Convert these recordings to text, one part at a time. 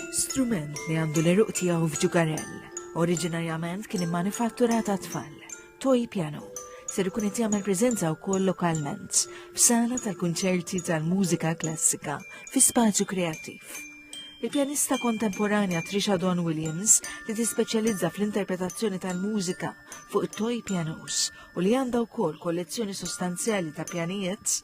Strument li għandu l-eruq tiegħu f'ġugarell. Oriġinarjament kien immanifattura ta' tfal, toy piano, ser ikun qed jagħmel preżenza wkoll lokalment f'sala tal-kunċerti tal-mużika klassika fi spazju kreattiv. Il-pjanista kontemporanja Trisha Don Williams li tispeċjalizza fl-interpretazzjoni tal-mużika fuq it-toy pianos u li għandha wkoll kollezzjoni sostanzjali ta' pjanijiet,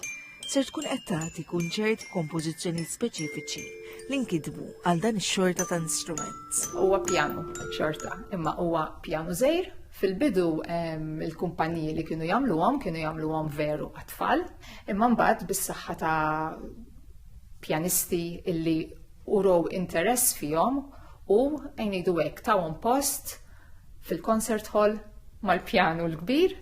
ser tkun qed tagħti kunċert kompożizzjonijiet speċifiċi li nkitbu għal dan ix-xorta ta' instrument. Huwa pjanu xorta, imma huwa pjanu żejr Fil-bidu il-kumpaniji li kienu jagħmluhom kienu jagħmluhom veru għat-tfal, imma mbagħad bis-saħħa ta' pjanisti illi urow interess fihom u ngħidu hekk tawhom post fil-concert hall mal-pjanu l-kbir.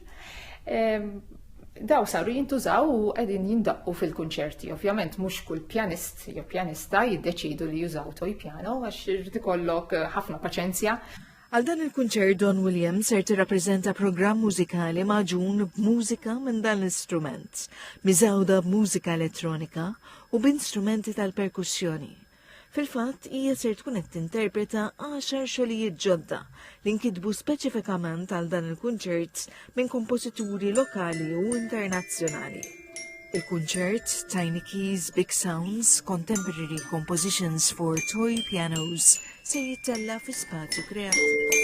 Daw saru jintużaw u qegħdin jindaqqu fil-kunċerti. Ovvjament mhux kull pjanist jew pjanista jiddeċidu li jużaw toj pjano għax irid ikollok eh, ħafna paċenzja. Għal dan il-kunċert Don Williams ser tirrappreżenta programm mużikali maġun b'mużika minn dan l-istrument, miżawda b'mużika elettronika u b'instrumenti tal-perkussjoni. Fil-fatt, hija ser tkun qed tinterpreta għaxar xogħlijiet ġodda li nkitbu speċifikament għal dan il-kunċert minn kompożituri lokali u internazzjonali. Il-kunċert Tiny Keys Big Sounds Contemporary Compositions for Toy Pianos se jittella fi spazju kreattiv.